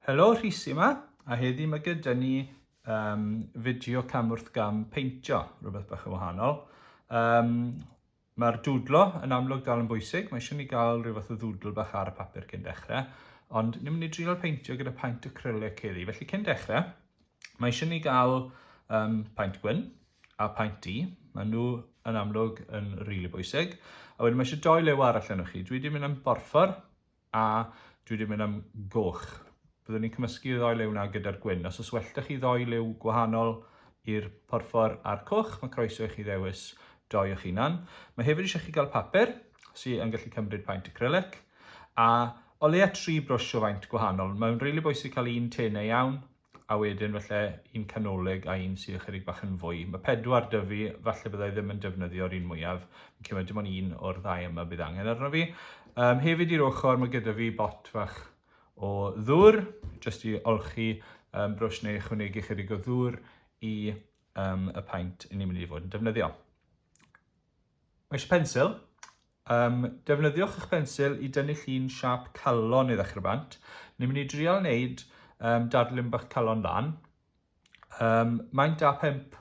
Helo, Rhys yma, a heddi mae gyda ni um, fideo camwrth gam peintio, rhywbeth bach yn wahanol. Um, Mae'r dwdlo yn amlwg dal yn bwysig, mae eisiau ni gael rhyw fath o ddwdl bach ar y papur cyn dechrau, ond ni'n mynd i drio peintio gyda paint acrylic heddi. Felly cyn dechrau, mae eisiau ni gael um, paint gwyn, a paent i. Mae nhw yn amlwg yn rili really bwysig. A wedyn mae eisiau doi lew arall yno chi. Dwi wedi mynd am borffor a dwi wedi mynd am goch. Byddwn ni'n cymysgu y ddoi lew yna gyda'r gwyn. Os yswellta chi ddoi lew gwahanol i'r porffor a'r coch, mae croeso i chi ddewis doi o'ch hunan. Mae hefyd eisiau chi gael papur sy'n yn gallu cymryd paent acrylic a o leia tri brwsh o faint gwahanol. Mae'n rili really bwysig cael un tenau iawn a wedyn falle un canolig a un sydd ychydig bach yn fwy. Mae pedwar dy fi, falle byddai ddim yn defnyddio'r un mwyaf. Fi'n cymryd dim ond un o'r ddau yma bydd angen arno fi. Um, hefyd i'r ochr mae gyda fi bot fach o ddŵr, jyst i olchi um, brwsh neu ychwanegu chydig o ddŵr i um, y paint i ni'n mynd i fod yn defnyddio. Mae eisiau pensil, Yym, defnyddiwch eich bensil i dynnu llun siâp calon i ddechrau bant. Ni'n mynd i drial wneud um, darlun bach calon lan. Um, maint A5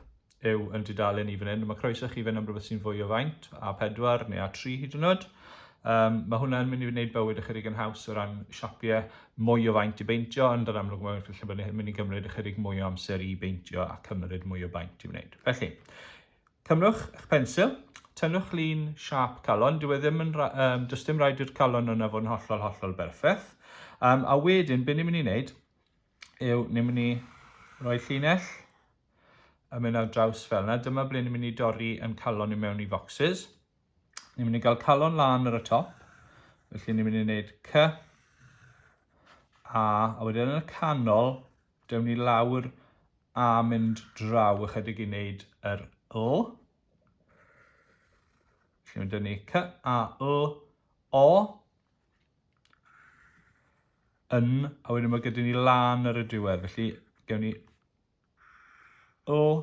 yw yn dudalen i fan hyn. Mae croeso chi fynd am rhywbeth sy'n fwy o faint, A4 neu A3 hyd yn oed. Um, mae hwnna'n mynd i wneud bywyd ychydig yn haws o ran siapiau mwy o faint i beintio, ond yn amlwg mae'n lle bod yn mynd i gymryd ychydig mwy o amser i beintio a cymryd mwy o baint i wneud. Felly, Cymrwch eich pensil, tynnwch lun siâp calon, dyw e ddim yn, um, does dim rhaid i'r calon yna fod yn hollol, hollol berffaith. Um, a wedyn, be ni'n mynd i wneud yw, ni'n mynd i roi llinell yn mynd ar draws fel yna. Dyma ble ni'n mynd i dorri yn calon i mewn i foxes. Ni'n mynd i gael calon lan ar y top. Felly ni'n mynd i wneud C, A, a wedyn yn y canol, Dewn ni lawr a mynd draw ychydig i wneud yr L. Felly mae dyn ni C, A, L, O. Yn, a wedyn mae gyda ni lan ar y diwedd. Felly gewn ni L,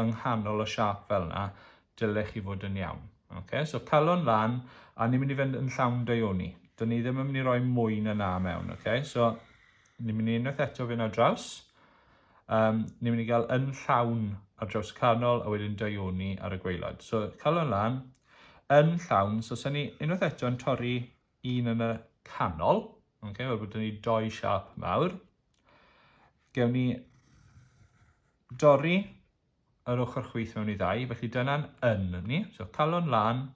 yng nghanol y siâp fel 'na, dylech chi fod yn iawn. Ok, so calon lan, a ni'n mynd i fynd yn llawn daioni. Dyn ni ddim yn mynd i roi mwy na na mewn, ok? So, ni'n mynd i unwaith eto fynd ar draws. Um, ni'n mynd i gael yn llawn ar draws y canol, a wedyn daioni ar y gweilod. So, calon lan, yn llawn, so sy'n ni unwaith eto yn torri un yn y canol, okay, fel bod ni doi siap mawr. Gewn ni dorri yr ochr chwyth mewn i ddau, felly dyna'n yn ni. So calon lan,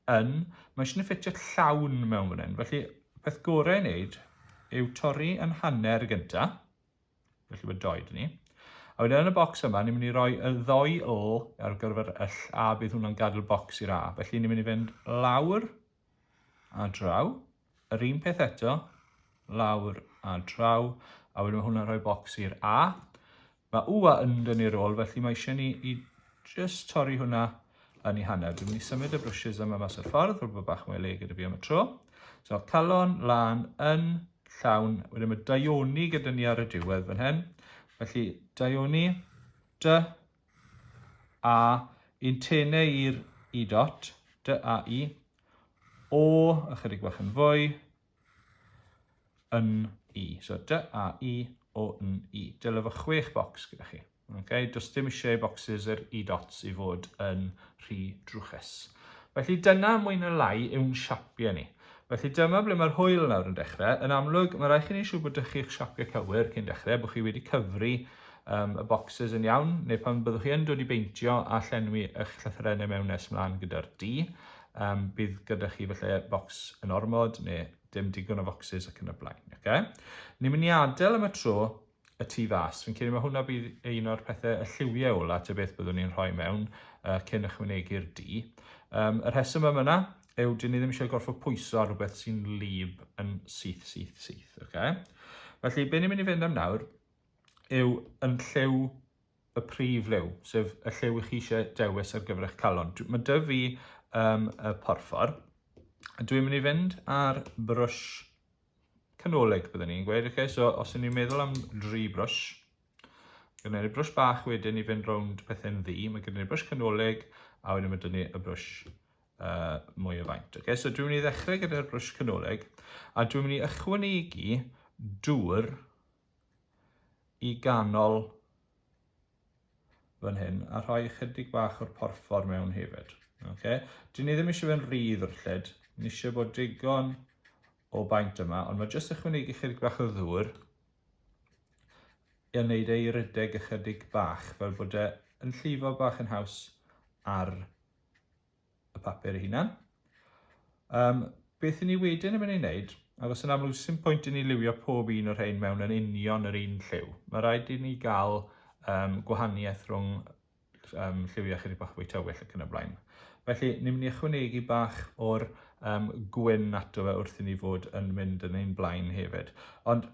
yn. Mae eisiau ni ffitio llawn mewn fan hyn. Felly, beth gorau i wneud yw torri yn hanner gynta. Felly mae doi dyn ni. A wedyn yn y bocs yma, ni'n mynd i roi y ddoi l ar gyfer y ll a bydd hwnna'n gadael bocs i'r a. Felly ni'n mynd i fynd lawr a draw, yr un peth eto, lawr a draw, a wedyn mae hwnna'n rhoi bocs i'r A. Mae U a yn dynnu'r ôl, felly mae eisiau ni i just torri hwnna yn ei hanner. Dwi'n mynd i symud y brushes yma mas o'r ffordd, rwy'n bod bach mwy le gyda fi am y tro. So, calon, lan, yn, llawn, wedyn mae daioni gyda ni ar y diwedd fan hyn. Felly, daioni, dy, a yn tene i'r i dot, dy a i, o ychydig bach yn fwy, yn i. So dy a i, o yn i. Dyle fo chwech bocs gyda chi. Okay? Does dim eisiau bocsys yr i dots i fod yn rhy drwchus. Felly dyna mwy na lai yw'n siapiau ni. Felly dyma ble mae'r hwyl yn awr yn dechrau. Yn amlwg, mae rhaid chi wneud siŵr bod dych chi'ch siapio cywir cyn dechrau, bod chi wedi cyfri um, y boxes yn iawn, neu pan byddwch chi yn dod i beintio a llenwi eich llythyrennau mewn nes mlaen gyda'r D, um, bydd gyda chi felly box yn ormod neu dim digon o foxes ac yn y blaen. Okay? Ni'n mynd i adael am y tro y tu fas. Fi'n credu mae hwnna bydd un o'r pethau y lliwiau ola ta beth byddwn ni'n rhoi mewn uh, cyn ychwanegu'r du. Um, y rheswm yma yna yw dyn ni ddim eisiau gorfod pwyso ar rhywbeth sy'n lib yn syth, syth, syth. Okay? Felly, be ni'n mynd i fynd am nawr yw yn llew y prif lew, sef y llew i chi eisiau dewis ar gyfer eich calon. Mae dy fi um, y porffor. Dwi'n mynd i fynd ar brwsh canolig byddwn ni'n gweud. Okay, so os ydyn ni'n meddwl am dri brwsh, gyda ni brwsh bach wedyn i fynd rownd pethau'n ddi, mae gyda ni brwsh canolig a wedyn mae dyna ni y brwsh uh, mwy o faint. Okay, so dwi'n mynd i ddechrau gyda'r brwsh canolig a dwi'n mynd i ychwanegu dŵr i ganol fan hyn a rhoi ychydig bach o'r porffor mewn hefyd. Okay. Dyn ni ddim eisiau fe'n rhydd o'r lled, ni eisiau bod digon o baint yma, ond mae jyst ychwanegu ychydig bach o ddŵr yn neud ei rydeg ychydig bach, fel bod e yn llifo bach yn haws ar y papur ei hunan. Um, beth i ni wedyn yn mynd i wneud? Achos yn amlwg, sy'n pwynt i ni liwio pob un o'r rhain mewn yn union yr un lliw. Mae rhaid i ni gael um, gwahaniaeth rhwng um, lliwiau chydig bach fwy tywyll ac yn y blaen. Felly, ni'n mynd i ychwanegu bach o'r um, gwyn ato fe wrth i ni fod yn mynd yn ein blaen hefyd. Ond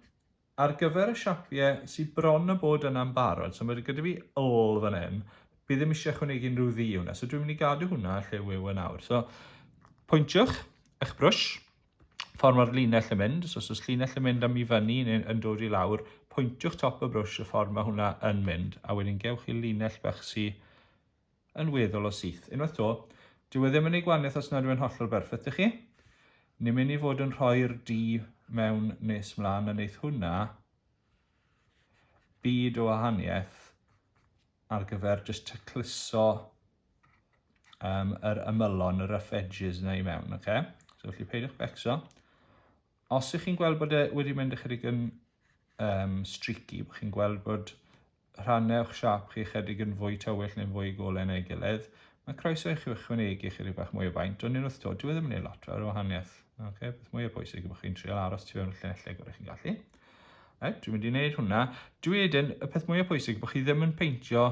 Ar gyfer y siapie sy bron a bod yna'n barod, so mae gyda fi wl fan hyn, fi ddim eisiau chwynegu unrhyw ddu i hwnna, so dwi'n mynd i gadw hwnna lle yw yn awr. So, pwyntiwch eich brwsh, ffordd mae'r linell yn mynd, so os oes linell yn mynd am i fyny neu yn dod i lawr, pwyntiwch top y brwsh y ffordd mae hwnna yn mynd, a wedyn gewch chi linell bach sy'n yn weddol o syth. Unwaith to, dyw e ddim yn ei gwaniaeth os nad yw e'n hollol berffeth, dych chi? Ni'n mynd i fod yn rhoi'r du mewn nes mlaen a wneith hwnna byd o wahaniaeth ar gyfer just tacluso um, yr ymylon, y rough edges yna i mewn, oce? Okay? So, felly peidiwch becso. Os ych chi'n gweld bod e wedi mynd ychydig yn um, streaky, bod chi'n gweld bod rhannau o'ch siap chi ychydig yn fwy tywyll neu'n fwy golau neu gilydd, mae croeso i chi ychwanegu ychydig bach mwy o faint, ond yn wrth dod, dwi e ddim yn ei lot fel wahaniaeth. Okay? Beth mwy o bwysig yw bod chi'n trial aros tu fewn y llinellau gorau chi'n gallu. Right, dwi'n mynd i wneud hwnna. Dwi edyn, y peth mwy o bwysig bod chi ddim yn peintio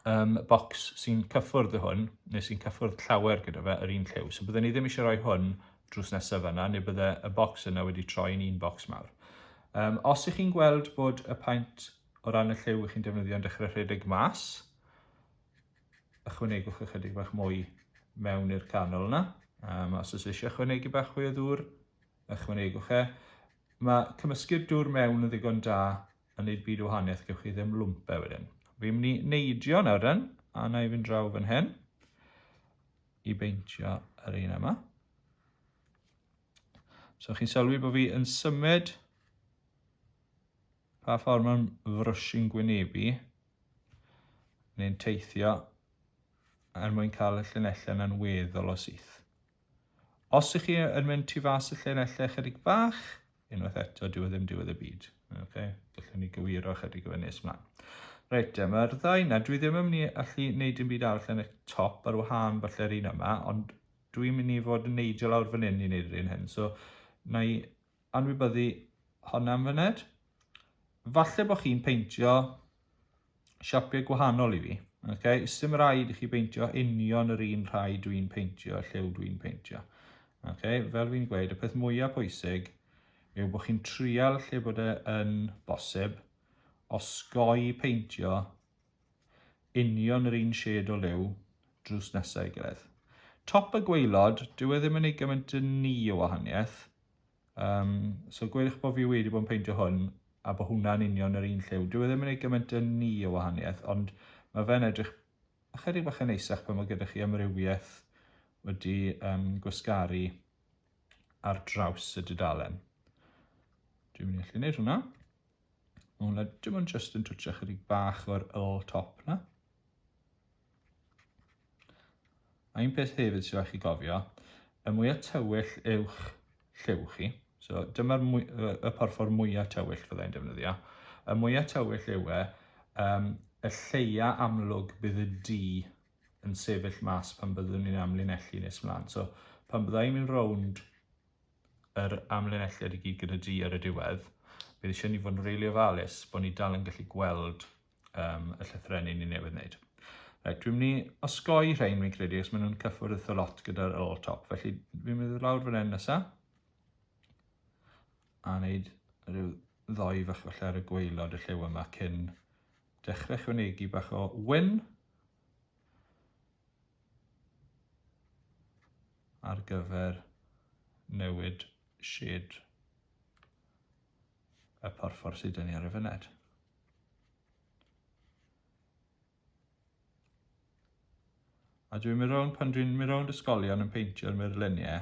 um, bocs sy'n cyffwrdd y hwn, neu sy'n cyffwrdd llawer gyda fe yr un lliw. So byddwn ni ddim eisiau rhoi hwn drws nesaf yna, neu bydde y bocs yna wedi troi yn un bocs mawr. Um, os ych chi'n gweld bod y paent o ran y lliw ych chi'n defnyddio'n dechrau rhedeg mas, ychwanegwch ychydig bach mwy mewn i'r canol yna. Um, os oes eisiau ychwanegu bach fwy o ddŵr, ychwanegwch e. Mae cymysgu'r dŵr mewn yn ddigon da yn neud byd o wahaniaeth, gewch chi ddim lwmpe wedyn. Fi'n mynd i neidio nawr den, a na i fynd draw fan hyn i beintio yr un yma. So chi'n sylwi bod fi yn symud pa ffordd mae'n frwsyn gwynebu neu'n teithio er mwyn cael y llinellau yna'n weddol o syth. Os ych chi yn mynd tu fas y llinellau chydig bach, unwaith eto, dyw e ddim diwedd y byd. Okay? Gallwn ni gywiro chydig o fe nes mlaen. Reit, e, mae'r ddau na, dwi ddim yn mynd i allu wneud yn byd arall yn y top ar wahân falle'r un yma, ond dwi'n mynd i fod yn neidio lawr fan hyn i wneud yr un hyn. So, na i anwybyddu honna am fyned. Falle bod chi'n peintio siapiau gwahanol i fi. Okay? Sdim rhaid i chi beintio union yr un rhai dwi'n peintio, llew dwi'n peintio. Okay? Fel fi'n gweud, y peth mwyaf pwysig yw bod chi'n trial lle bod e yn bosib osgoi peintio union yr un shed o liw drws nesau gilydd. Top y gweilod, dyw e ddim yn ei gymaint yn ni o wahaniaeth, Um, so gwedwch bod fi wedi bod yn peintio hwn a bod hwnna'n union yr un lliw. Dwi e ddim yn ei gymaint yn ni o wahaniaeth, ond mae fe'n edrych ychydig bach yn eisach pan mae gyda chi amrywiaeth wedi um, gwasgaru ar draws y dudalen. Dwi'n mynd i allu gwneud hwnna. Mae hwnna dim ond just yn twtio chydig bach o'r ol top na. A un peth hefyd sy'n rhaid chi gofio, y mwyaf tywyll yw'ch lliw chi, so dyma'r y porffor mwyaf tywyll fyddai'n defnyddio, y mwyaf tywyll yw e, um, y lleia amlwg bydd y du yn sefyll mas pan byddwn ni'n amlinellu nes mlaen. So pan byddai'n mynd rownd yr amlinelliad i gyd gyda du ar y diwedd, bydd eisiau ni fod yn rili ofalus bod ni dal yn gallu gweld um, y llythrau ni newydd wneud. Right, dwi'n mynd i osgoi rhain, fi'n credu, os maen nhw'n cyffwrdd eitha lot gyda'r ôl top. Felly, fi'n mynd i lawr fan hyn nesaf. A wneud rhyw ddoi fach falle ar y gweilod y llew yma cyn dechrau chwnegu bach o wyn. Ar gyfer newid shed y porffor sydd yn ni ar y fyned. A dwi'n mynd rownd, pan dwi'n mynd rownd ysgolion yn peintio'r murluniau,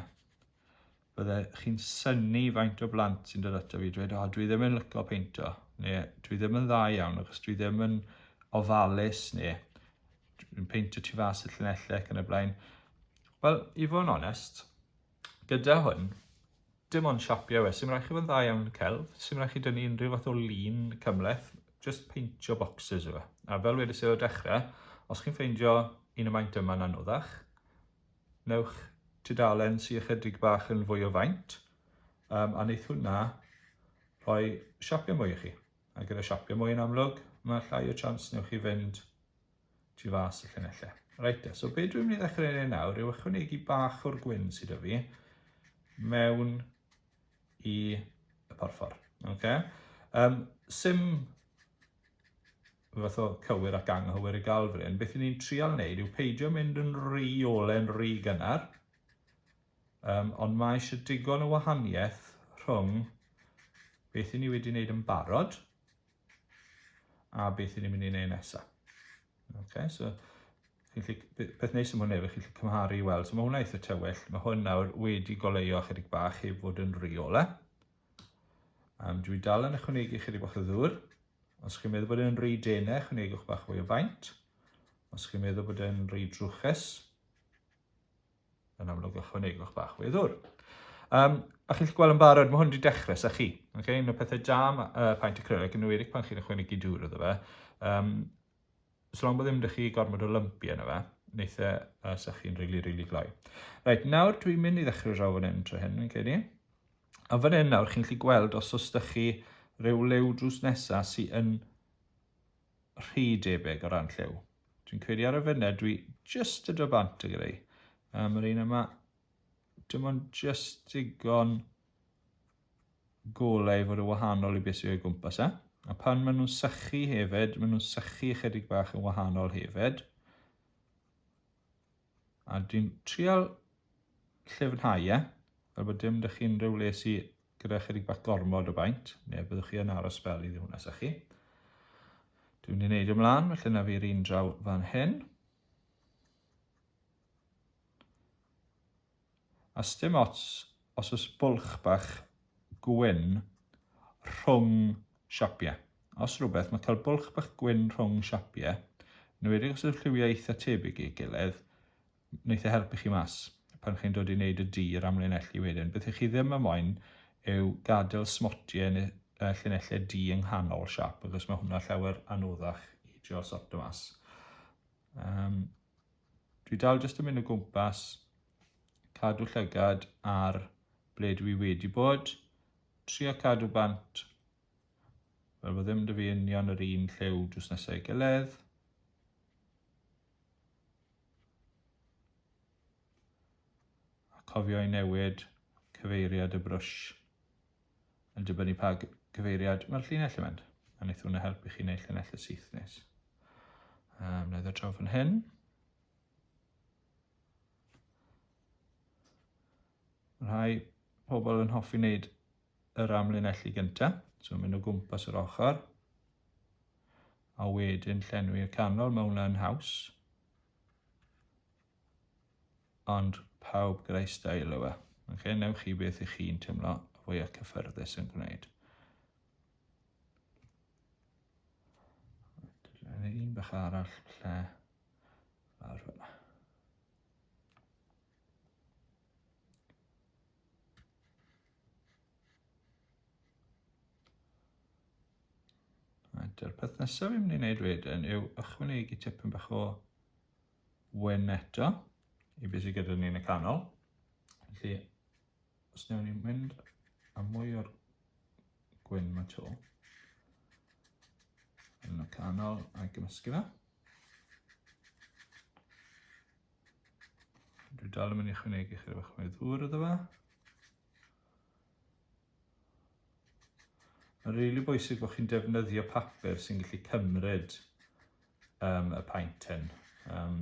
bydde chi'n syni faint o blant sy'n dod ato fi dweud, o, dwi ddim yn lyco peinto, neu dwi ddim yn dda iawn, achos dwi ddim yn ofalus, neu dwi'n peintio tu fas y llunellau ac yn y blaen. Wel, i fod yn onest, Gyda hwn, dim ond siapio yw e, sy'n rhaid chi fod yn dda iawn yn y celf, sy'n rhaid chi dynnu unrhyw fath o lun cymleth, just peintio boxes yw e. A fel wedi sydd o dechrau, os chi'n ffeindio un y maint yma'n anoddach, newch tudalen sy'n ychydig bach yn fwy o faint, um, a wneud hwnna rhoi siapio mwy i chi. A gyda siapio mwy yn amlwg, mae llai o chance newch chi fynd tu fas y llinellau. Reit de, so be dwi'n mynd i ddechrau ei nawr yw ychwanegu bach o'r gwyn sydd â fi mewn i y porffor. Okay? Um, sim fath o cywir ac anghywir i gael fy hyn. Beth ni'n trial wneud yw peidio mynd yn rhy ole'n rhy gynnar, um, ond mae eisiau digon o wahaniaeth rhwng beth i ni wedi wneud yn barod a beth i ni'n mynd i wneud nesaf. Okay, so, beth neis am hwn efo, chi'n cymharu i weld. So mae hwnna eitha tywyll. Mae hwn nawr wedi goleio chydig bach heb fod yn riola. Um, dwi dal yn ychwanegu chydig bach o ddŵr. Os chi'n meddwl bod e'n rhy denau, ychwanegwch bach fwy o faint. Os chi'n meddwl bod e'n rhy drwchus, yn amlwg ychwanegwch bach o weddwr. Um, a chi'n gweld yn barod, mae hwn wedi dechrau sa chi. Okay? Un o pethau da uh, paint acrylic yn ymwedig pan chi'n ychwanegu dŵr iddo fe. Um, so long bod ddim ydych chi gormod o lympi yna fe, wneud e uh, sa chi'n rili, really, rili really gloi. Reit, nawr dwi'n mynd i ddechrau draw fan hyn tro hyn, yn credu. A fan hyn nawr chi'n gallu gweld os os ydych chi rhyw lew drws nesaf sy'n rhy debyg o ran lliw. Dwi'n credu ar y funud dwi just y do bant y greu. Um, yr un yma, dim ond just digon golau i fod y wahanol i beth sydd o'i gwmpas e. A pan maen nhw'n sychu hefyd, maen nhw'n sychu ychydig bach yn wahanol hefyd. A dwi'n trial llyfnhau e, fel bod dim dych chi'n rhyw le sy gyda chydig bach gormod o baint, neu byddwch chi yn aros fel i ddiwrnod sa chi. Dwi'n ei wneud ymlaen, felly na fi'r un draw fan hyn. A sdim ots os oes bwlch bach gwyn rhwng siapiau. Os rhywbeth, mae cael bwlch bach gwyn rhwng siapiau, yn enwedig os yw'r lliwiau eitha tebyg i'w gilydd, yn eitha helpu chi mas. Pan chi'n dod i wneud y du i'r amlinellu wedyn, beth ych chi ddim yn moyn yw gadael smotiau yn y llinellau du yng nghanol siap, achos mae hwnna llawer anoddach i drio sortio mas. Um, Dwi dal jyst yn mynd o gwmpas, cadw llygad ar ble dwi wedi bod, trio cadw bant, fel bod ddim dy fi union yr un lliw drws nesau ei gilydd. A cofio i newid cyfeiriad y brwsh. Yn dibynnu pa gyfeiriad mae'r llinell yn mynd, a wneith hwnna helpu chi wneud llinell y syth nes. Um, na ddod draw fan hyn. Mae rhai pobl yn hoffi wneud yr amlinellu gyntaf, so mynd o gwmpas yr ochr, a wedyn llenwi y canol, mae hwnna'n haws. Ond pawb gyda'i stael yw e. Ok, newch chi beth i chi'n teimlo y fwya cyffyrddus yn gwneud. Dyna un bach arall lle lawr fyna. Dy'r peth nesaf fi'n mynd i wneud wedyn yw ychwanegu tipyn bach o wen eto i beth sydd gyda ni yn y canol. Felly, os newn ni'n mynd a mwy o'r gwyn mae to yn y canol a'i gymysgu fe. Dwi dal yn mynd i chwynegu chi rhywbeth mwy ddŵr iddo fe. Mae'n rili really bwysig bod chi'n defnyddio papur sy'n gallu cymryd um, y paint hyn. Um,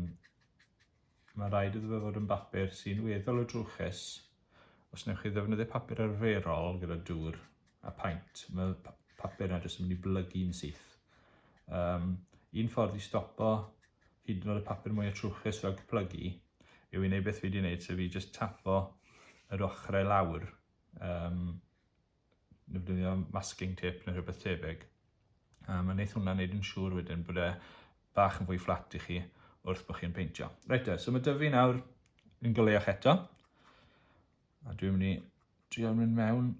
mae rhaid iddo fe fod yn bapur sy'n weddol o drwchus. Os newch chi ddefnyddio papur arferol gyda dŵr a paint, mae papur yna jyst yn mynd i blygu'n syth. Um, un ffordd i stopo hyd yn oed y papur mwya trwchus fel cyplygu yw i wneud beth fi wedi wneud, sef i jyst tapo yr ochrau lawr, um, defnyddio masking tape neu rhywbeth tebyg. Um, a wneud hwnna wneud yn siŵr wedyn bod e bach yn fwy fflat i chi wrth bod chi'n peintio. Reit e, so mae dyfu nawr yn goleach eto. A dwi'n mynd i trio mynd mewn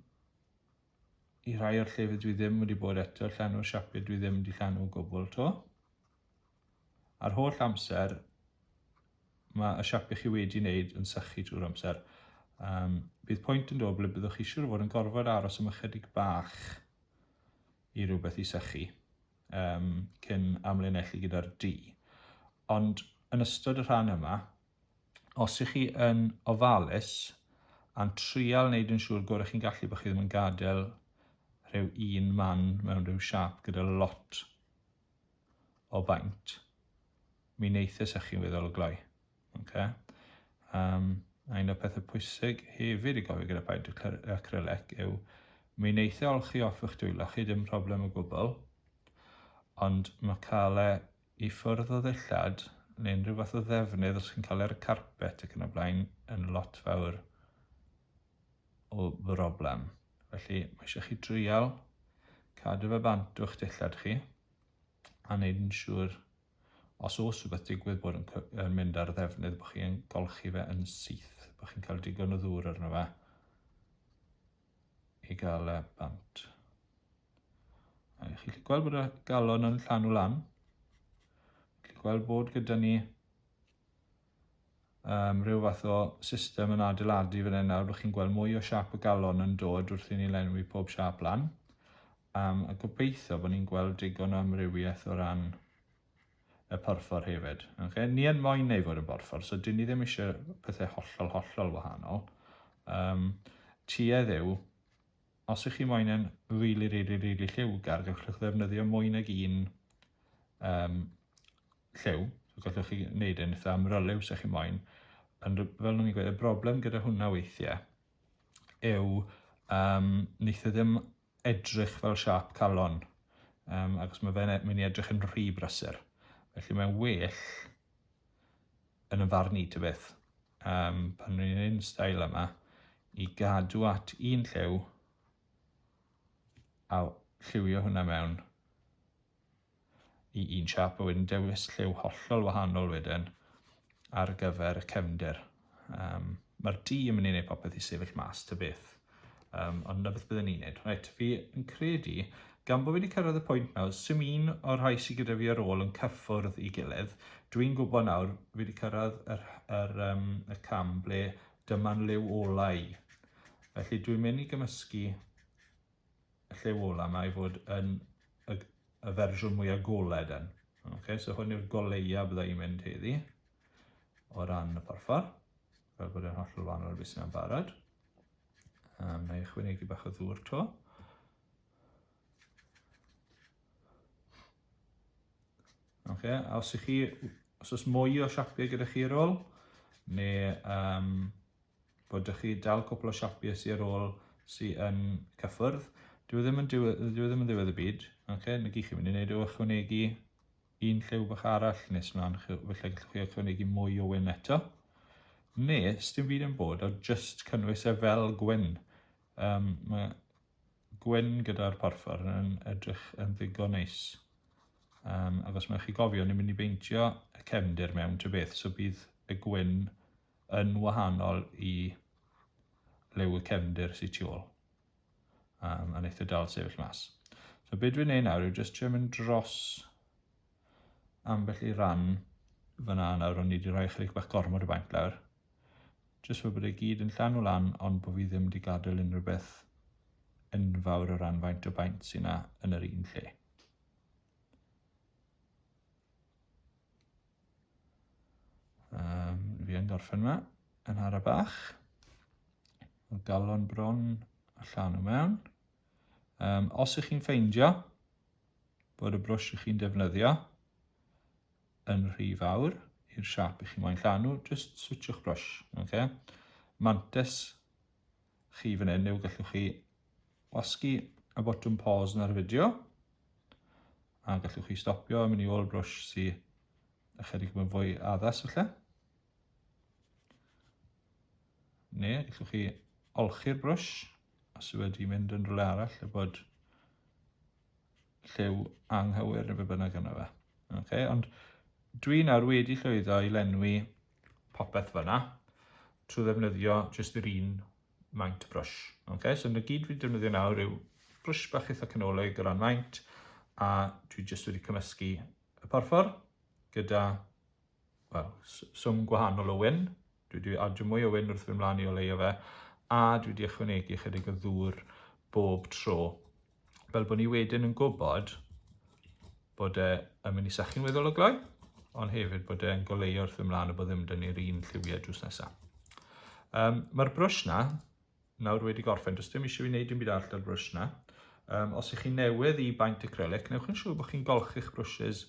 i rhai o'r llefydd dwi ddim wedi bod eto, llanw siapyd dwi ddim wedi llanw o gwbl to. A'r holl amser mae y siap i chi wedi wneud yn sychu trwy'r amser. Um, bydd pwynt yn dod ble byddwch chi siŵr o fod yn gorfod aros am ychydig bach i rhywbeth i sychu um, cyn amlinellu gyda'r du. Ond yn ystod y rhan yma, os ych chi yn ofalus a'n trial wneud yn siŵr gorau chi'n gallu bod chi ddim yn gadael rhyw un man mewn rhyw siap gyda lot o faint, mi wneithus â chi weddol o gloi. Okay? Um, a un o'r pethau pwysig hefyd i gofio gyda paid acrylic yw mi wneithio olchi off eich dwylo chi dim problem o gwbl, ond mae cael e i ffwrdd o ddillad neu unrhyw fath o ddefnydd os chi'n cael e ar y carpet ac yn y blaen yn lot fawr o broblem. Felly mae eisiau chi dreial cadw fe bant o'ch dillad chi a wneud yn siŵr os oes rhywbeth digwydd bod yn, yn mynd ar ddefnydd bod chi'n golchi fe yn syth, bod chi'n cael digon o ddŵr arno fe i gael e bant. A chi'n gallu gweld bod y galon yn llanw lan. Chi'n gallu gweld bod gyda ni um, rhyw fath o system yn adeiladu fan hyn nawr, rydych chi'n gweld mwy o siap y galon yn dod wrth i ni lenwi pob siap lan. Um, a gobeithio bod ni'n gweld digon o amrywiaeth o ran y porffor hefyd. Okay? Ni yn moyn neu fod yn borffor, so dyn ni ddim eisiau pethau hollol, hollol wahanol. Um, tuedd yw Os ych chi moyn yn rili rili rili lliwgar gallwch ddefnyddio mwy nag un um, lliw, so gallwch chi wneud yn eitha amryliw sech chi moyn, ond fel o'n i'n gweud, y broblem gyda hwnna weithiau yw um, wneith e ddim edrych fel siap calon, um, agos mae fe'n e-, mynd i edrych yn rhy brysur. Felly mae'n well yn y farn i ty beth. um, pan rwy'n gwneud yn stael yma, i gadw at un lliw a lliwio hwnna mewn i un siap a wedyn dewis lliw hollol wahanol wedyn ar gyfer y cefndir. Um, Mae'r di yn mynd i wneud popeth i sefyll mas ta beth. Um, ond na beth byddwn ni'n neud. Right, fi yn credu, gan bod fi wedi cyrraedd y pwynt nawr, sy'n un o'r rhai sy'n gyda fi ar ôl yn cyffwrdd i gilydd, dwi'n gwybod nawr, fi wedi cyrraedd yr, yr, um, y cam ble dyma'n liw olau. Felly dwi'n mynd i gymysgu y lliw olau yma i fod yn y, y fersiwn mwy agoled yn. Okay, so hwn yw'r goleia byddai i'n mynd heddi o ran y porffor, fel bod e'n hollol wahanol beth sy'n barod. A wna i ychwanegu bach o ddŵr to. Oce, okay, a os ych chi, os oes mwy o siapiau gyda chi ar ôl, neu um, bod ych chi dal cwpl o siapiau sy'n ar ôl sy'n yn cyffwrdd, dwi e ddim yn ddiwedd, dwi e ddim yn ddiwedd y byd, oce, okay, na gyd chi'n mynd i wneud yw ychwanegu un lliw bach arall nes mlaen, felly gallwch chi ychwanegu mwy o wyn eto. Ne, sdim byd yn bod, o just cynnwys e fel gwyn. Um, mae gwyn gyda'r porffor yn edrych yn ddigon neis. Um, ac os mae chi gofio, ni'n mynd i beintio y cefndir mewn ty beth, so bydd y gwyn yn wahanol i liw y cefndir sy'n tu ôl. Um, mae'n eitha dal sefyll mas. So beth dwi'n neud nawr yw just trio mynd dros ambell i ran fyna nawr o'n i wedi rhoi chydig bach gormod o baint lawr. Just fod bod e gyd yn llan o lan ond bod fi ddim wedi gadael unrhyw beth enfawr o ran faint o baint sy'n yna yn yr un lle. Um, fi yn gorffen yma, yn hara bach. Y galon bron a llan o mewn. Um, os ych chi'n ffeindio bod y brwsh ych chi'n defnyddio yn rhy fawr i'r siap ych chi'n moyn llanw, just switchwch brwsh. Okay? Mantis chi fan hyn yw gallwch chi wasgu y botwm pause yn yr fideo a gallwch chi stopio yn mynd i ôl brwsh sy'n ychydig yn fwy addas felly. Neu gallwch chi olchi'r brwsh os yw wedi mynd yn rhywle arall a bod lliw anghywir neu be bynnag yna fe. Okay, ond dwi nawr wedi llwyddo i lenwi popeth fyna trwy ddefnyddio jyst yr un maint brush. Okay? So na gyd fi'n defnyddio nawr yw brush bach eitha canolig o ran maint a dwi jyst wedi cymysgu y porffor gyda well, swm gwahanol o wyn. Dwi wedi adio mwy o wyn wrth fy mlaen i o leio fe a dwi wedi ychwanegu chydig o ddŵr bob tro fel bod ni wedyn yn gwybod bod e yn mynd i sychu'n weddol o gloi, ond hefyd bod e'n goleu wrth ymlaen a bod ddim dyn ni'r un lliwiau drws nesaf. Um, Mae'r brwsh na, nawr wedi gorffen, does dim eisiau fi wneud dim byd arall â'r brwsh na. Um, os ych chi'n newydd i baint acrylic, newch yn siŵr bod chi'n golchi'ch brwsys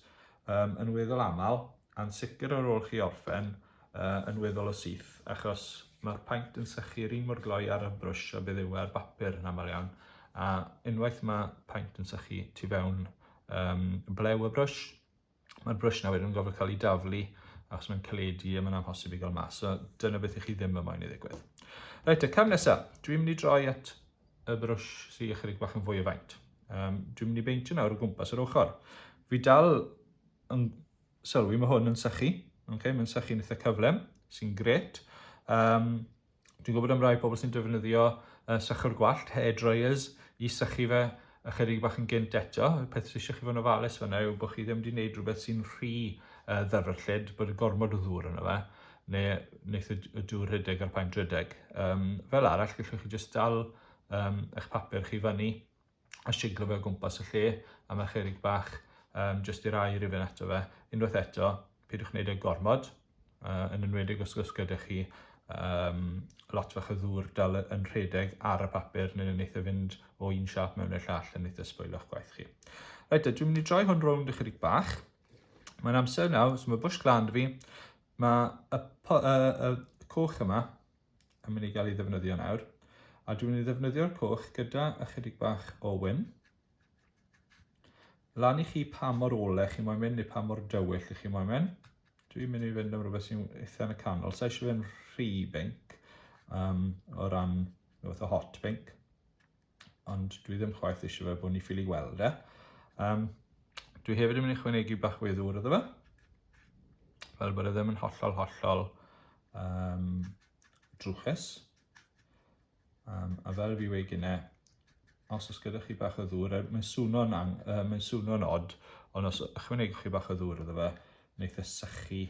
um, yn weddol aml, a'n sicr ar ôl chi orffen, uh, yn weddol o syth, achos mae'r paint yn sychu yr un mor gloi ar y brwsh a bydd yw e ar bapur yn aml iawn, a unwaith mae paint yn sychu tu fewn um, blew y brwsh, mae'r brwsh na wedyn yn gofod cael ei daflu achos mae'n caledu a mae'n amhosib i gael mas. So dyna beth i chi ddim yn moyn i ddigwydd. Reit, y cam nesaf, dwi'n mynd i droi at y brwsh sy'n ychydig bach yn fwy o faint. Um, dwi'n mynd i beintio nawr o gwmpas yr ochr. Fi dal yn Sylwi, mae hwn yn sychu. Okay, mae'n sychu'n eitha cyflym, sy'n gret. Um, dwi'n gwybod am rai pobl sy'n defnyddio uh, sychwr gwallt, hair dryers, i sychu fe ychydig bach yn gynt eto. Y peth sy'n eisiau chi fod yn ofalus fyna yw bod chi ddim wedi gwneud rhywbeth sy'n rhy uh, ddyfrllyd, bod y gormod o ddŵr yna fe, neu wneud y dŵr rhedeg a'r paent rhedeg. Um, fel arall, gallwch chi jyst dal um, eich papur chi fyny a siglo fe o gwmpas y lle, a mae'r cherrig bach um, jyst i'r air i fynd ato fe. Unwaith eto, pidwch wneud e gormod, uh, yn enwedig os oes gyda chi um, lot fach o ddŵr dal yn rhedeg ar y papur neu'n wneud e fynd o un siap mewn i'r llall yn eitha sboilo'ch gwaith chi. Reit, dwi'n mynd i droi hwn rownd ychydig bach. Mae'n amser nawr, so mae bush glan fi, mae y, y, y coch yma, yn mynd i gael ei ddefnyddio nawr. A dwi'n mynd i ddefnyddio'r coch gyda ychydig bach o wyn. Lan i chi pa mor ole chi moyn mynd neu pa mor dywyll i chi moyn mynd. Dwi'n mynd i fynd am rhywbeth sy'n eitha yn y canol. Sa'n eisiau fynd rhy binc um, o ran rhywbeth o hot binc. ond dwi ddim chwaith eisiau fe bod ni ffili weld e. Um, dwi hefyd yn mynd i chwanegu bach fwy ddŵr iddo fe, fel bod e ddim yn hollol hollol um, drwchus. Um, a fel fi wei gyne, os oes gyda chi bach o ddŵr, er, mae'n swno'n uh, mae swno odd, ond os ychwanegwch chi bach o ddŵr iddo fe, wneud e sychu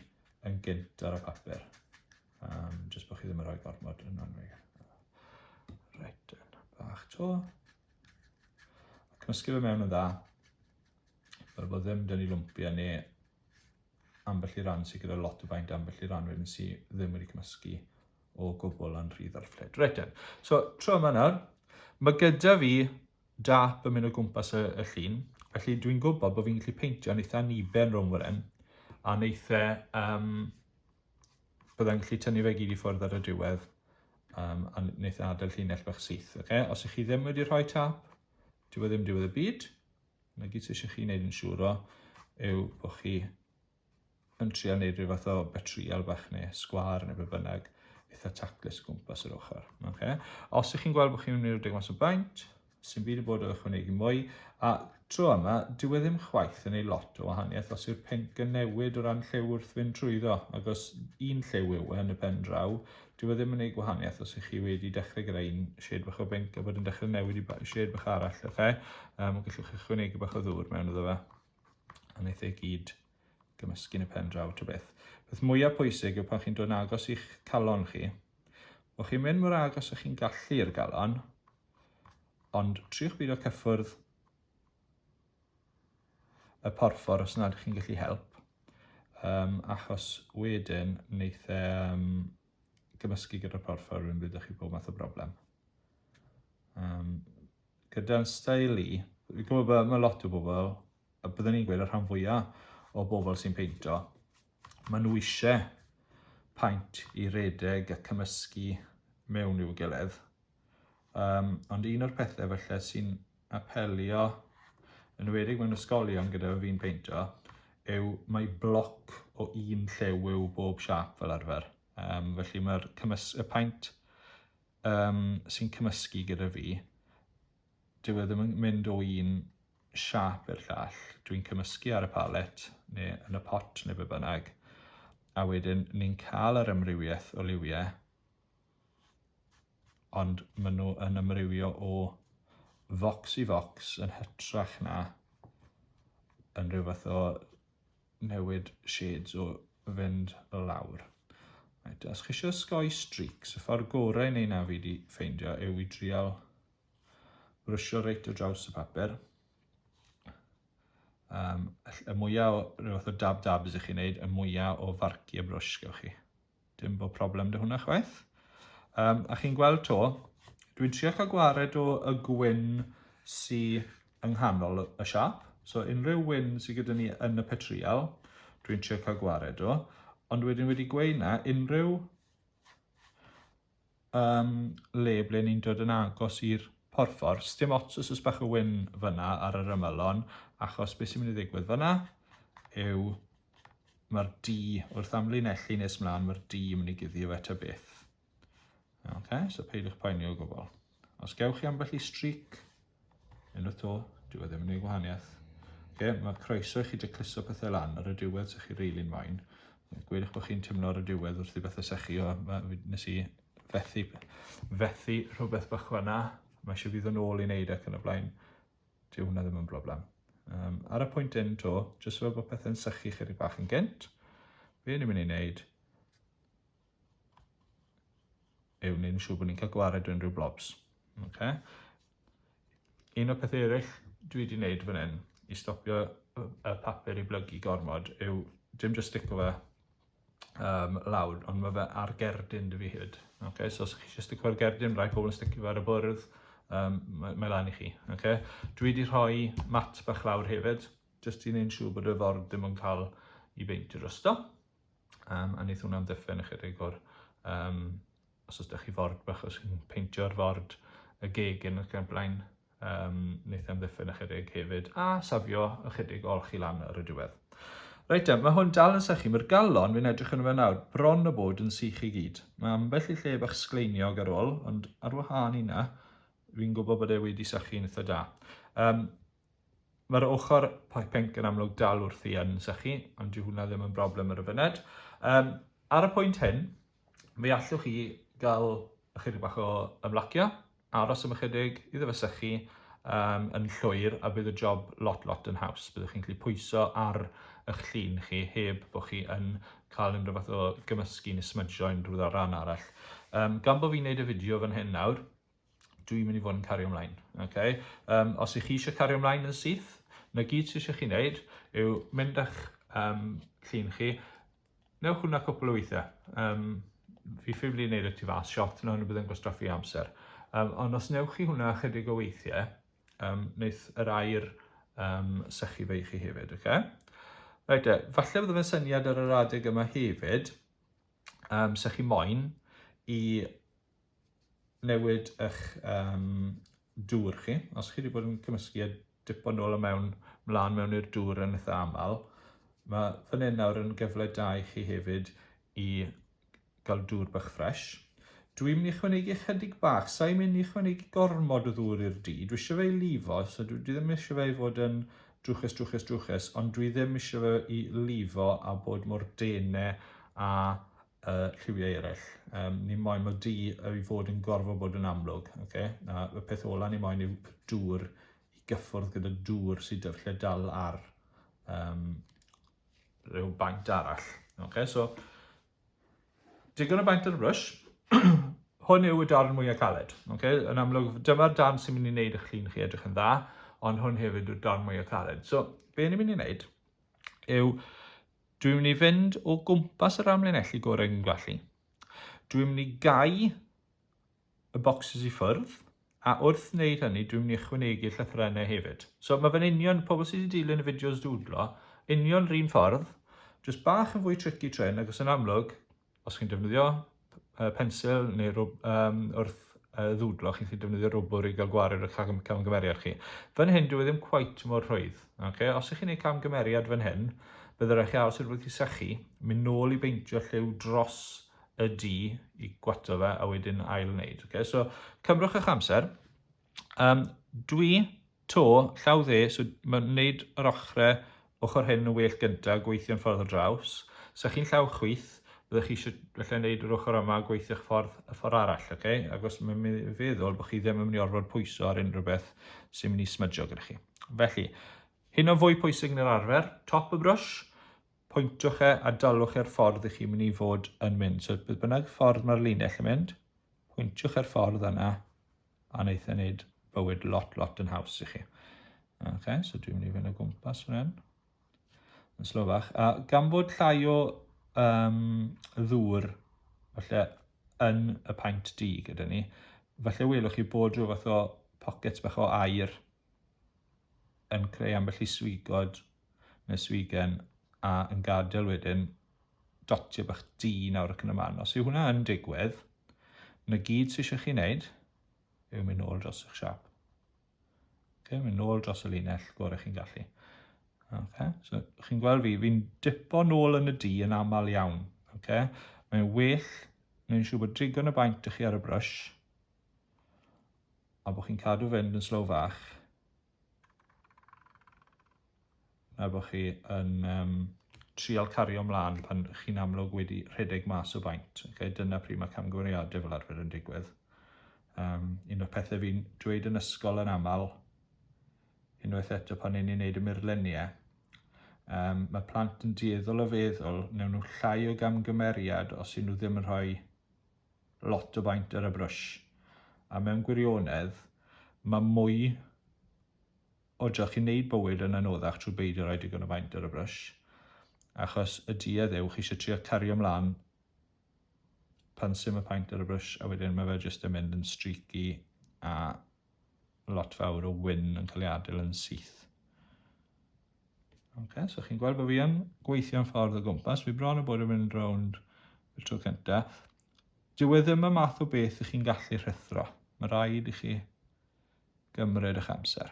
yn gynt ar y papur. Um, just bod chi ddim yn rhoi gormod yn rhannu. Reit, bach to. Cymysgu fe mewn yn dda. Fel bod ddim dyn ni lwmpia ni ambell i ran sy'n gyda lot o faint ambell i ran wedyn sy'n ddim wedi cymysgu o gwbl yn rhydd ar ffled. Reit then. So, tro yma nawr, mae gyda fi dap yn mynd o gwmpas y, y llun, felly dwi'n gwybod bod fi'n gallu peintio'n eitha niben rhwng fan hyn, a'n eitha um, byddai'n gallu tynnu fe gyd i ffwrdd ar y diwedd um, a wneud adael llinell bach syth. Okay? Os ych chi ddim wedi rhoi tap, dyw e ddim diwedd y byd. Mae gyd sydd eisiau chi wneud yn siŵr o yw bod chi yn trio wneud rhyw fath o betrial bach neu sgwar neu be bynnag eitha taclus gwmpas yr ochr. Okay? Os ych chi'n gweld bod chi'n mynd i'r deg mas o baint, Sdim byd i bod o ychwanegu mwy. A tro yma, dyw e ddim chwaith yn ei lot o wahaniaeth os yw'r pink yn newid o ran lliw wrth fynd trwyddo, ac os un lliw yw e yn y pen draw, dyw e ddim yn ei gwahaniaeth os ych chi wedi dechrau gyda un shade bach o bink a bod yn dechrau newid i shade bach arall, ok? Um, gallwch chi chwynegu bach o ddŵr mewn iddo fe, a wnaeth ei gyd gymysgu yn y pen draw ta beth. Beth mwyaf pwysig yw pan chi'n dod yn agos i'ch calon chi, o chi'n mynd mor agos ych chi'n gallu i'r galon, Ond triwch beidio cyffwrdd y porffor os nad ydych chi'n gallu help, um, achos wedyn wneith e um, gymysgu gyda'r porffor rwy'n bydd chi pob math o broblem. Um, gyda'n stael i, fi'n gwybod bod mae lot o bobl, a byddwn ni'n gweud y rhan fwyaf o bobl sy'n peintio, maen nhw eisiau paent i redeg a cymysgu mewn i'w gilydd, Um, ond un o'r pethau falle sy'n apelio, yn wedig mewn ysgolion gyda fi'n peintio, yw mae bloc o un llew yw bob siap fel arfer. Um, felly mae'r y paint um, sy'n cymysgu gyda fi, dyw e ddim yn mynd o un siap i'r llall. Dwi'n cymysgu ar y palet, neu yn y pot, neu be bynnag. A wedyn ni'n cael yr amrywiaeth o liwiau ond maen nhw yn ymrywio o focs i focs yn hytrach na yn rhyw fath o newid shades o fynd lawr. Right, os chi eisiau sgoi streaks, y ffordd gorau neu na fi wedi ffeindio yw i drial brwsio reit o draws y papur. Um, y mwyaf o rhywbeth o dab dab ydych chi'n gwneud, y mwyaf o farciau brwsh gywch chi. Dim bod problem dy hwnna chwaith. Um, a chi'n gweld to, dwi'n trio cael gwared o y gwyn sy yng nghanol y siap. So unrhyw wyn sydd gyda ni yn y petrial, dwi'n trio cael gwared o. Ond wedyn wedi gweud na, unrhyw Yym, le ble ni'n dod yn agos i'r porffor. Sdim ots os oes bach o wyn fyna ar yr ymylon, achos beth sy'n mynd i ddigwydd fyna yw mae'r D, wrth amlinellu nes mlaen, mae'r D yn mynd i guddio fe ta beth. Okay, so peidiwch poeni o gwbl. Os gewch chi ambell i streak, yn y to, dyw e ddim yn ei gwahaniaeth. Okay, mae croeso i chi decluso pethau lan ar y diwedd sy'ch chi reili'n fain. Gwyd eich bod chi'n teimlo ar y diwedd wrth i bethau sechu o, nes i fethu, fethu rhywbeth bach fanna, mae eisiau fydd yn ôl i wneud ac yn y blaen, dyw hwnna ddim yn broblem. Um, ar y pwynt un to, jyst fel bod pethau'n sychu chydig bach yn gynt, be ni'n mynd i wneud, yw wneud yn siŵr bod ni'n cael gwared o unrhyw blobs. Okay. Un o'r pethau eraill dwi wedi wneud fan hyn i stopio y papur i blygu gormod yw dim just stick o fe um, lawr, ond mae fe ar gerdyn dy fi hyd. Okay, so os chi eisiau sticio ar gerdyn, rai pobl yn sticio fe ar y bwrdd, um, mae, mae lan i chi. Okay? Dwi wedi rhoi mat bach lawr hefyd, jyst i wneud siŵr bod y ford ddim yn cael i beintio drosto. Um, a wneith hwnna'n ddiffen ychydig o'r, um, os oes da chi ford bach, os chi'n peintio'r ford, y gegin ac yn blaen, um, wneith am ddiffen ychydig hefyd, a safio ychydig ol chi lan ar y diwedd. Reit e, mae hwn dal yn sychu, mae'r galon, fi'n edrych yn fe nawr, bron o bod yn sych i gyd. Mae ambell i lle bach sgleiniog ar ôl, ond ar wahân i na, fi'n gwybod bod e wedi sychu'n eitha da. Um, Mae'r ochr poi pinc yn amlwg dal wrthi yn sychu, ond dyw hwnna ddim yn broblem ar y funud. Um, ar y pwynt hyn, fe allwch chi gael ychydig bach o ymlacio, aros am ychydig, iddo fe sychu, um, yn llwyr a bydd y job lot lot yn haws. Byddwch chi'n gallu pwyso ar eich llun chi heb bod chi yn cael unrhyw fath o gymysgu neu smydgio unrhyw ddaran arall. Um, gan bod fi'n neud y fideo fan hyn nawr, dwi'n mynd i fod yn cario ymlaen. Okay? Um, os ych chi eisiau cario ymlaen yn syth, na gyd sydd eisiau chi wneud yw mynd â'ch um, llun chi, newch hwnna cwpl o weithiau. Um, fi ffifli wneud y tu fas shot, na hwnnw bydd yn gwastraffu amser. Um, ond os newch chi hwnna chydig o weithiau, um, wneud yr air um, sychu fe i chi hefyd. Okay? Right, e, falle bydd fe'n syniad ar yr adeg yma hefyd, um, sychu moyn i newid eich um, dŵr chi. Os chi wedi bod yn cymysgu a dipo nôl o mewn, mlaen mewn i'r dŵr yn eitha aml, mae fan hyn nawr yn gyfle da i chi hefyd i gael dŵr bach ffres. Dwi'n mynd i chwanegu chydig bach, sa'i mynd i chwanegu gormod o ddŵr i'r du. Dwi eisiau fe i lifo, so dwi ddim eisiau fe i fod yn drwchus, drwchus, drwchus, ond dwi ddim eisiau fe i lifo a bod mor dene a uh, lliwiau eraill. Um, ni moyn mae du i fod yn gorfod bod yn amlwg. Okay? A y peth ola ni moyn yw dŵr i gyffwrdd gyda dŵr sydd dy lle dal ar um, rhyw baint arall. Okay? So, digon o baint ar y brwys. Hwn yw y darn mwyaf caled. Okay? Yn amlwg, dyma'r darn sy'n mynd i wneud eich llun chi edrych yn dda, ond hwn hefyd yw'r darn mwyaf caled. So, be ni'n mynd i wneud yw dwi'n mynd i fynd o gwmpas yr amlinellu gorau yn gallu. Dwi'n mynd i gau y bocsys i ffwrdd, a wrth wneud hynny, dwi'n mynd i ychwanegu llythrennau hefyd. So mae fe'n union, pobl sydd wedi dilyn y fideos dwdlo, union rhywun ffordd, jyst bach yn fwy tricky tren, ac os yn amlwg, Os chi'n defnyddio pensil neu rwb um, wrth uh, ddwdlo, chi'n gallu defnyddio rwbwr i gael gwared ar cam camgymeriad chi. Fan hyn, dwi e ddim cwait mor rhwydd. Okay? Os ych chi'n gwneud camgymeriad fan hyn, byddai rhaid chi aros i'r rhywbeth i sychu, mynd nôl i beintio lliw dros y du i gwato fe a wedyn ail wneud. Okay? So, cymrwch eich amser, Um, dwi, to, llaw dde, so mae'n gwneud yr ochrau ochr hyn yn well gyntaf, gweithio'n ffordd o draws. Sa chi'n llaw chwith, byddwch chi eisiau felly wneud yr ochr yma a gweithio'ch ffordd y ffordd arall, oce? Okay? Ac os mae'n mynd i feddwl bod chi ddim yn mynd i orfod pwyso ar unrhyw beth sy'n mynd i smydjo gyda chi. Felly, hyn o fwy pwysig yn yr arfer, top y brwsh, pwyntwch e a dalwch e'r ffordd i chi'n mynd i fod yn mynd. So, bydd bynnag ffordd mae'r linell yn mynd, pwyntwch e'r ffordd yna a wneith e wneud bywyd lot, lot yn haws i chi. Ok, so dwi'n mynd i fynd o gwmpas rhan. Yn slofach. A gan bod llai o um, ddŵr falle yn y paint di gyda ni, falle welwch chi bod rhyw fath o pockets bach o air yn creu ambell i swigod Miss Wigan, a yn gadael wedyn dotio bach di nawr ac yn y man. Os yw hwnna yn digwydd, na gyd sy'n eisiau chi wneud yw mynd nôl dros eich siap. Okay, mynd nôl dros y linell gorau chi'n gallu. Okay, so chi'n gweld fi, fi'n dipo nôl yn y di yn aml iawn. Okay? Mae'n well, mae'n siŵr bod digon y baint ych chi ar y brwys, a bod chi'n cadw fynd yn slow fach, Er bod chi yn um, trial cario mlaen pan chi'n amlwg wedi rhedeg mas o faint. Okay? Dyna pryd mae camgymeriadau fel arfer yn digwydd. Um, un o'r pethau fi'n dweud yn ysgol yn aml, unwaith eto pan ni'n ei wneud y murluniau, um, mae plant yn dueddol o feddwl newn nhw llai o gamgymeriad os yw nhw ddim yn rhoi lot o faint ar y brwsh a mewn gwirionedd mae mwy o drych i wneud bywyd yn anoddach trwy beidio rhoi digon o faint ar y brwsh achos y duedd yw chi eisiau trio cario mlaen pan sy'n y paint ar y brwsh a wedyn mae fe jyst yn mynd yn streaky a lot fawr o wyn yn cael ei adael yn syth. Ok, so chi'n gweld bod fi yn gweithio'n ffordd o gwmpas. Fi bron yn bod yn mynd rownd y tro cynta. Dyw e ddim y math o beth i chi'n gallu rhethro. Mae rhaid i chi gymryd eich amser.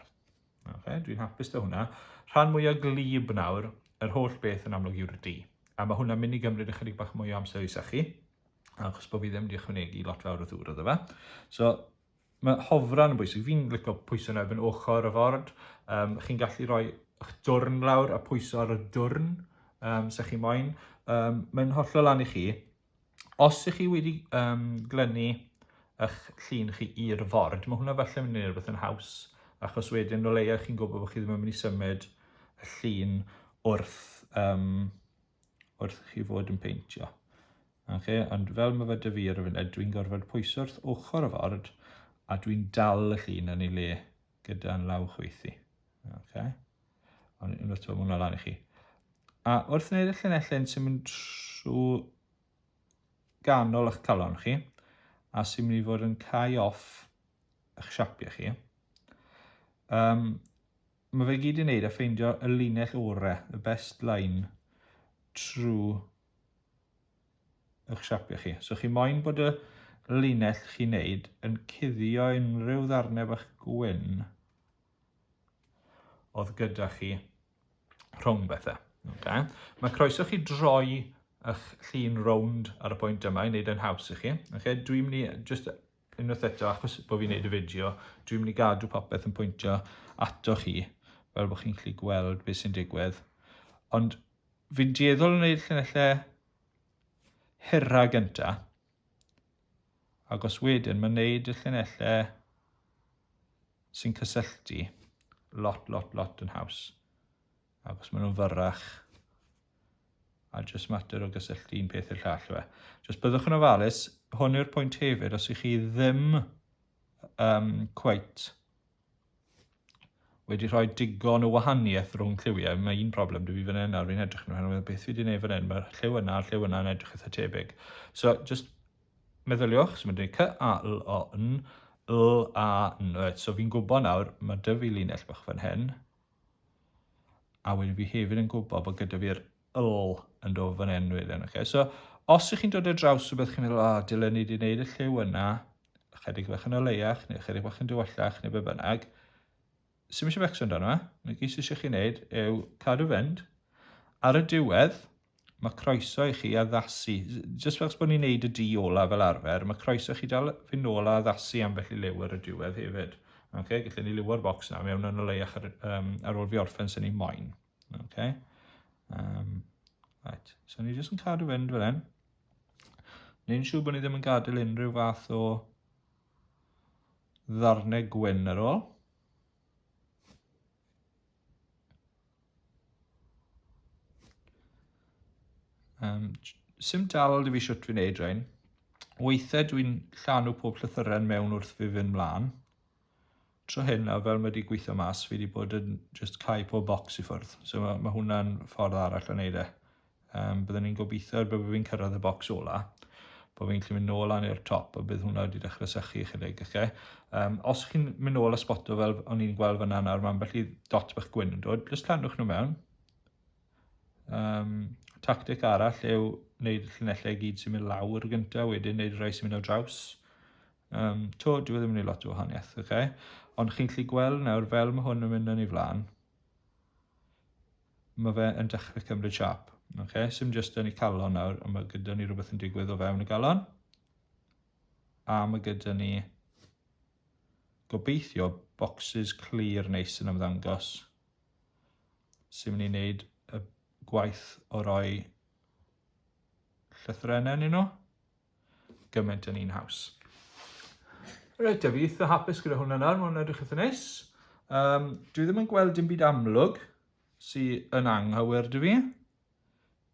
Ok, dwi'n hapus da hwnna. Rhan mwyaf glib nawr, yr holl beth yn amlwg yw'r di. A mae hwnna'n mynd i gymryd ychydig bach mwy o amser i sachu, achos bod fi ddim wedi ychwanegu lot fawr o ddŵr o fe. So, Mae hofran yn bwysig. Fi'n licio pwyso yn erbyn ochr y ford. Um, chi'n gallu rhoi eich dwrn lawr a pwyso ar y dwrn, um, se chi moyn. Um, mae'n hollol lan i chi. Os ych chi wedi um, glynu eich llun chi i'r ford, mae hwnna falle mynd i rhywbeth yn haws, achos wedyn o leia chi'n gwybod bod chi ddim yn mynd i symud y llun wrth, um, wrth chi fod yn peintio. Oce, ond fel mae fe dy fi ar y funud, dwi'n gorfod pwyso wrth ochr y ford, a dwi'n dal y llun yn ei le gyda'n law chwythu. Oce. Ond unwaith to, mae hwnna lan i chi. A wrth wneud y llinellau'n sy'n mynd trwy ganol eich calon chi, a sy'n mynd i fod yn cael off eich siapiau chi, um, mae fe gyd i wneud a ffeindio y linell orau, y best line, trwy eich siapio chi. So chi moyn bod y linell chi'n neud yn cuddio unrhyw ddarnau bach gwyn oedd gyda chi rhwng bethau. Okay. Mae croeso chi droi eich llun rownd ar y pwynt yma i wneud yn haws i chi. Okay. Dwi'n mynd i, just unwaith eto, achos bod fi'n wneud y fideo, dwi'n mynd i gadw popeth yn pwyntio ato chi, fel bod chi'n gallu gweld beth sy'n digwydd. Ond Fi'n dueddol o wneud llinellau hirra gynta. Ac os wedyn, mae'n wneud y llinellau sy'n cysylltu lot, lot, lot yn haws. Ac os maen nhw'n fyrrach, a jyst mater o gysylltu un peth i'r llall fe. Jyst byddwch yn ofalus, hwn yw'r pwynt hefyd, os ych chi ddim um, cweit wedi rhoi digon o wahaniaeth rhwng lliwiau. Mae un problem dwi fi fan hyn nawr, fi'n edrych nhw hyn, beth fi wedi gwneud fan hyn, mae'r lliw yna a'r lliw yna yn edrych eitha tebyg. So, just meddyliwch, so mae'n dweud cy a l o n, l a n, right, so fi'n gwybod nawr, mae dy fi linell bach fan hyn, a wedyn fi hefyd yn gwybod bod gyda fi'r ll yn dod fan hyn wedyn. Okay. So, os ych chi'n dod ar draws rhywbeth chi'n meddwl, oh, dylen ni wedi gwneud y lliw yna, ychydig bach yn oleiach, neu ychydig bach yn dywyllach, neu be bynnag, sy'n eisiau becso amdano fe, mae gyd sy'n eisiau chi'n neud yw cadw fynd. Ar y diwedd, mae croeso i chi addasu, jyst fel bod ni'n neud y di ola fel arfer, mae croeso chi dal fynd nôl a addasu am felly liw ar y diwedd hefyd. Okay, gallwn ni liwo'r bocs na mewn yn oleiach ar, um, ar ôl fi orffen sy'n ni moyn. Okay. Um, right. So ni jyst yn cadw fynd fel hyn. Neu'n siŵr bod ni ddim yn gadael unrhyw fath o ddarnau gwyn ar ôl. Um, Sym dal i fi siwt fi'n neud rhain. Weithiau dwi'n llanw pob llythyren mewn wrth fi fynd mlaen. tro hyn a fel mae wedi gweithio mas fi wedi bod yn just cau pob bocs i ffwrdd so mae, mae hwnna'n ffordd arall o wneud e um, byddwn ni'n gobeithio ar byddwn fi'n cyrraedd y bocs ola bod fi'n gallu mynd nôl lan i'r top a bydd hwnna wedi dechrau sychu ychydig okay? um, os chi'n mynd nôl a sboto fel o'n i'n gweld fyna nawr mae ambell i dot bach gwyn yn dod just llanwch nhw mewn um, tactic arall yw wneud llinellau gyd sy'n mynd lawr gyntaf wedyn wneud rhai sy'n mynd o draws Yym, 'to, dyw e ddim yn neud lot o wahanieth, oce? Ond chi'n gallu gweld nawr, fel ma' hwn yn mynd yn ei flan, ma' fe yn dechre cymryd siâp, oce? Sim jyst yn ei calon nawr, ond ma' gyda ni rhywbeth yn digwydd o fewn y galon. A ma' gyda ni gobeithio bocsys clir neis yn ymddangos sy'n mynd i wneud y gwaith o roi llythrennau yn nhw. gymaint yn un haws. Reit, a fi eitha hapus gyda hwnna nawr, mae'n edrych eitha neis. Um, dwi ddim yn gweld dim byd amlwg sydd yn anghywir dwi fi.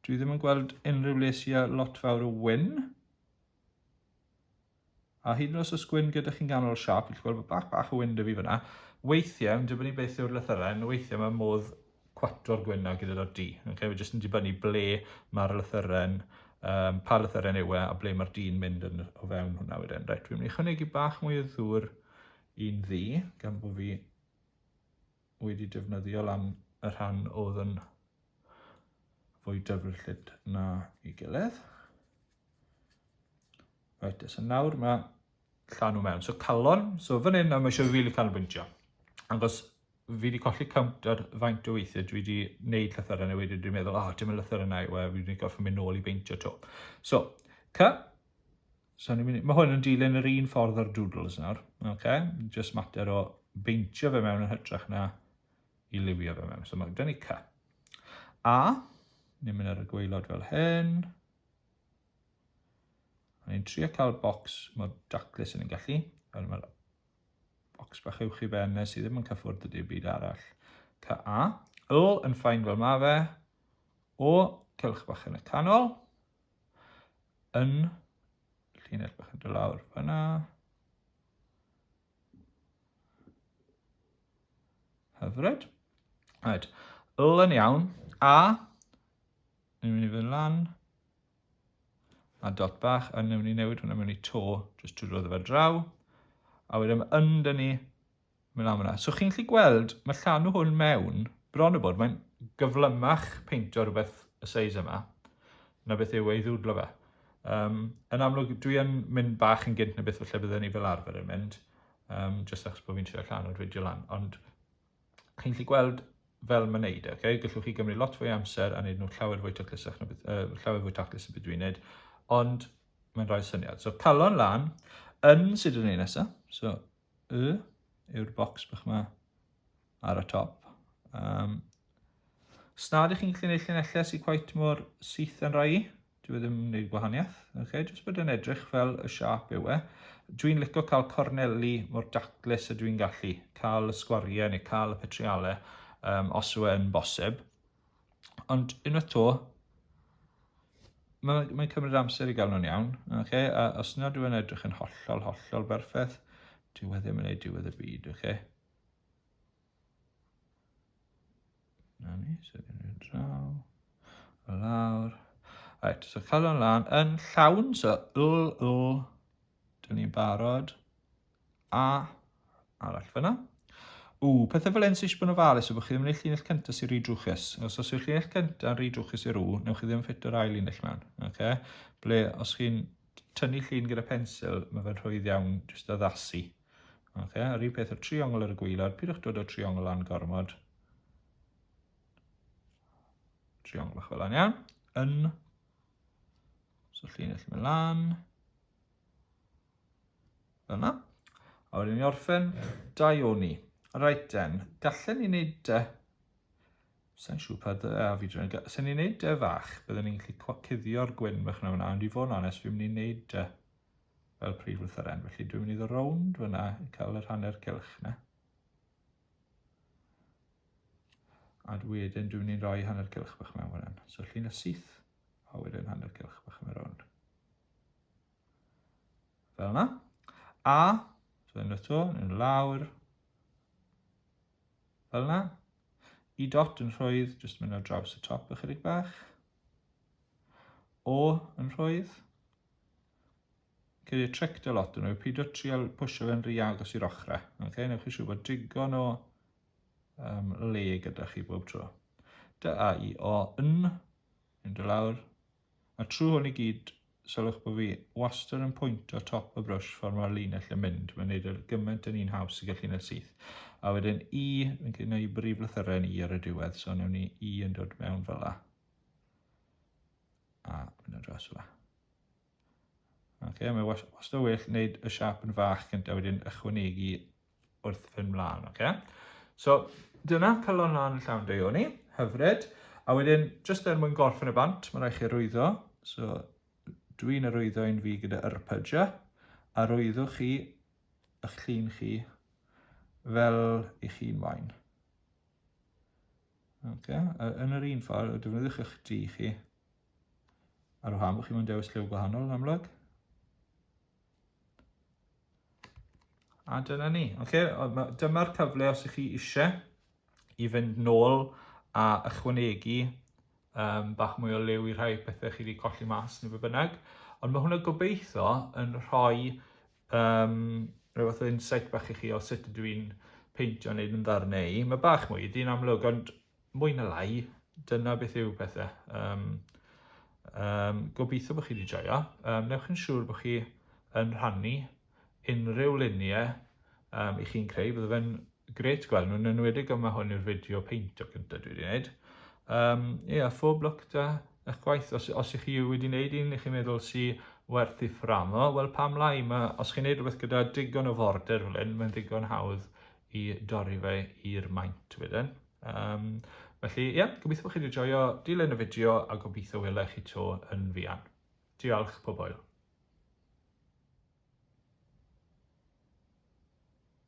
Dwi ddim yn gweld unrhyw le sy'n a lot fawr o wyn. A hyd yn oes os gwyn gyda chi'n ganol siap, chi'n gweld bod bach bach o wyn dy fi fyna. Weithiau, yn dibynnu beth yw'r lythyrau, yn weithiau mae modd cwatro'r gwyn a gyda'r du. Okay? Mae jyst yn dibynnu ble mae'r lythyren, um, pa lythyren yw e a ble mae'r du'n mynd yn, o fewn hwnna wedyn. Reit, fi'n mynd i chynegu bach mwy o ddŵr i'n ddu, gan bod fi wedi defnyddio lan y rhan oedd yn fwy dyfrllyd na i gilydd. Right, so nawr mae llanw mewn. So calon, so fan hyn mae eisiau rili canolbwyntio. Angos fi 'di colli count ar faint o weithie dwi 'di neud llythyren a wedyn dwi'n meddwl, oh, dim y llythyren na yw e, fi 'di gorfod mynd nôl i beintio 'to. So, ca, so ni'n mynd, mae hwn yn dilyn yr un ffordd o'r doodles nawr, okay? just mater o beintio fe mewn yn hytrach na i liwio fe mewn. So mae gen i ca. A, ni'n mynd ar y gweilod fel hyn. A ni'n trio cael bocs mor daclus yn ni'n gallu. Mae'r Bocs bach uwch i ben nes i ddim yn cyffwrdd y dim byd arall. Ca A. O yn ffain fel ma fe. O cylch bach yn y canol. Yn llinell bach yn dod lawr fyna. Hyfryd. Right. L yn iawn. A. Ni'n mynd i fynd lan. a dot bach yn mynd i newid hwnna mewn i to, jyst trwy roedd fe draw, a wedyn mae yn dyn ni mynd am hwnna. So chi'n gallu gweld, mae llanw hwn mewn, bron o bod, mae'n gyflymach peintio rhywbeth y seis yma, na beth yw ei ddwdlo fe. Um, yn amlwg, dwi yn mynd bach yn gynt na beth falle bydden ni fel arfer yn mynd, um, jyst achos bod fi'n trio llanw'r fideo lan, ond Chi'n gallu gweld fel mae'n neud e, okay? gallwch chi gymryd lot fwy amser a wneud nhw'n llawer fwy taclusach na beth, uh, llawer fwy taclus y beth dwi'n wneud, ond mae'n rhoi syniad. So calon lan, yn sydd yn ei nesaf, so y yw'r bocs bych yma ar y top. Um, Snad ych chi'n gallu gwneud llunellau sy'n quite mor syth yn rhai, Dyw e ddim yn gwneud gwahaniaeth. Okay? Jyst bod e'n edrych fel y siap yw e. Dwi'n licio cael corneli mor daclus y dwi'n gallu. Cael y sgwariau neu cael y petrialau um, os yw e'n bosib. Ond unwaith to, mae'n mae cymryd amser i gael nhw'n iawn. Okay? A os nad yw'n edrych yn hollol, hollol berffaith, dyw e ddim yn ei diwedd y byd. Okay? Na ni, so gen i'r draw. O lawr. Right, so cael o'n lan yn llawn, so l, l. Dyn ni'n barod. A, arall fyna. O, pethau fel hyn sy'n eisiau bod yn ofalus yw bod chi ddim yn eich llinell cyntaf sy'n rhy drwchus. Os oes yw'ch llinell cyntaf yn rhy drwchus i'r o, newch chi ddim ffito'r ail linell mewn. Okay? Ble, os chi'n tynnu llun gyda pensil, mae fe'n rhwydd iawn jyst addasu. Ok, a'r un peth o'r triongl ar y gwaelod, pidwch dod o'r triongl lan gormod. Triongl bach fel hyn, iawn. Yn. So llun allu mynd lan. Fel yna. A wedyn ni orffen dau o ni. Right then, gallen ni wneud dy... Sa'n siŵr pa dy a fi drin. Sa'n ni'n wneud dy fach, byddwn ni'n gallu cwacudio'r gwyn bach na fyna, ond i fod yn onest, fi'n mynd i wneud dy fel prif lythyren. Felly dwi'n mynd i ddod rownd fyna, cael yr hanner cylch na. A wedyn dwi'n mynd i roi hanner cylch bach mewn fan So llun y syth, a wedyn hanner cylch bach mewn rownd. Fel yna. A, dwi'n mynd eto, yn lawr. Fel yna. I dot yn rhoedd, jyst mynd o draws y top ychydig bach. O yn rhoedd, Cyd y tric dy lot nhw yw pidio trial pwysio fe'n rhy agos i'r ochrau. Okay? Newch chi siw bod digon o um, le gyda chi bob tro. Dy a i o yn, yn dy lawr. A trwy hwn i gyd, sylwch bod fi wastad yn pwyntio top y brwsh ffordd mae'r linell yn mynd. Mae'n neud yr gymaint yn un haws i gallu neud syth. A wedyn i, yn gyda i brif lythyrau yn i ar y diwedd, so newn ni i yn dod mewn fel la. A, mynd o dros yma. Ok, mae wastad o well wneud y siap yn fach gyntaf wedyn ychwanegu wrth fynd mlaen, ok? So, dyna calon lan y llawn deuo ni, hyfryd. A wedyn, jyst er mwyn gorffen y bant, mae rhaid chi rwyddo. So, dwi'n arwyddo un fi gyda yrpyja, a rwyddwch chi ych llun chi fel i chi'n moyn. Ok, yn yr un ffordd, defnyddiwch eich dri chi. Ar wahân bod chi'n mynd dewis lliw gwahanol yn amlwg. A dyna ni. Ok, dyma'r cyfle os ych chi eisiau i fynd nôl a ychwanegu um, bach mwy o liw i rhai pethau chi wedi colli mas neu be bynnag. Ond mae hwnna gobeithio yn rhoi Um, rhyw fath o insight bach i chi o sut ydw i'n peintio wneud yn ddar neu. Mae bach mwy, di'n amlwg, ond mwy na lai, dyna beth yw pethau. Um, um, gobeithio bod chi wedi joio. Um, newch yn siŵr bod chi yn rhannu unrhyw luniau um, i chi'n creu. Byddai fe'n Grêt gweld nhw, yn enwedig yma hwn yw'r fideo peintio cyntaf dwi wedi gwneud. Um, yeah, phob lwc da eich gwaith. Os, os ych chi wedi gwneud un i chi'n meddwl si werth i fframo, wel pam lai, ma, os chi'n gwneud rhywbeth gyda digon o forder fel hyn, mae'n ddigon hawdd i dorri fe i'r maint wedyn. Um, felly, ie, yeah, gobeithio bod chi wedi joio dilyn y fideo a gobeithio welech chi to yn fuan. Diolch, pobol.